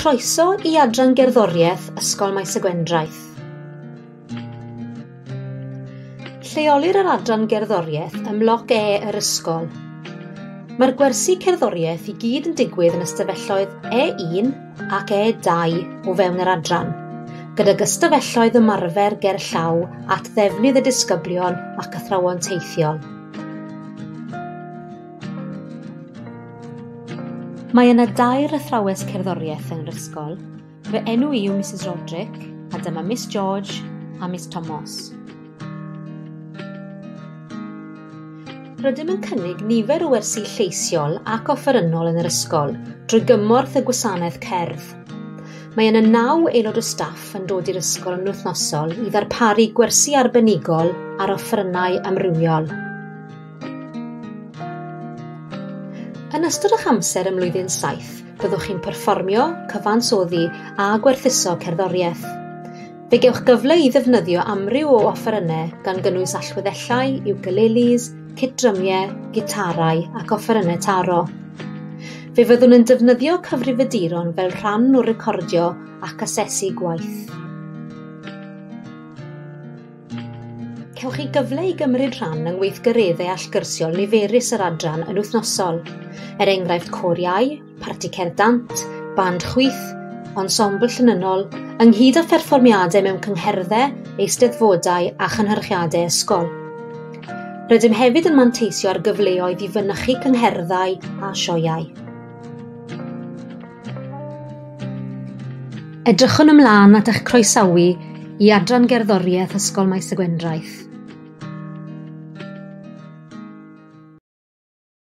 Croeso i Adran Gerddoriaeth Ysgol Maes y Gwendraeth. Lleolir yr Adran Gerddoriaeth ym Mloc E yr ysgol. Mae'r gwersi cerddoriaeth i gyd yn digwydd yn ystafelloedd E1 ac E2 o fewn yr adran, gyda gystafelloedd ymarfer ger llaw at ddefnydd y disgyblion ac athrawon teithiol. Mae yna dair athrawes cerddoriaeth yn yr ysgol. Fy enw i yw Mrs Roderick a dyma Miss George a Miss Thomas. Rydym yn cynnig nifer o wersi lleisiol ac offerynnol yn yr ysgol drwy gymorth y gwasanaeth cerdd. Mae yna naw aelod o staff yn dod i'r ysgol yn wythnosol i ddarparu gwersi arbenigol ar offerynnau amrywiol. Yn ystod eich amser ym Mlwyddyn 7, byddwch chi'n perfformio, cyfansoddi a gwerthuso cerddoriaeth. Fe gewch gyfle i ddefnyddio amryw o offerynnau gan gynnwys allweddellau, ukuleles, cydrymiau, gitarau ac offerynnau taro. Fe fyddwn yn defnyddio cyfrifiaduron fel rhan o recordio ac asesu gwaith. Cewch chi gyfle i gymryd rhan yng ngweithgareddau allgyrsiol niferus yr adran yn wythnosol, er enghraifft cor iau, parti cerdd dant, band chwyth, ensemble llynynol, ynghyd â pherfformiadau mewn cyngherddau, eisteddfodau a chynhyrchiadau ysgol. Rydym hefyd yn manteisio ar gyfleoedd i fynychu cyngherddau a sioeau. Edrychwn ymlaen at eich croesawu i Adran Gerddoriaeth Ysgol Maes y Gwendraeth.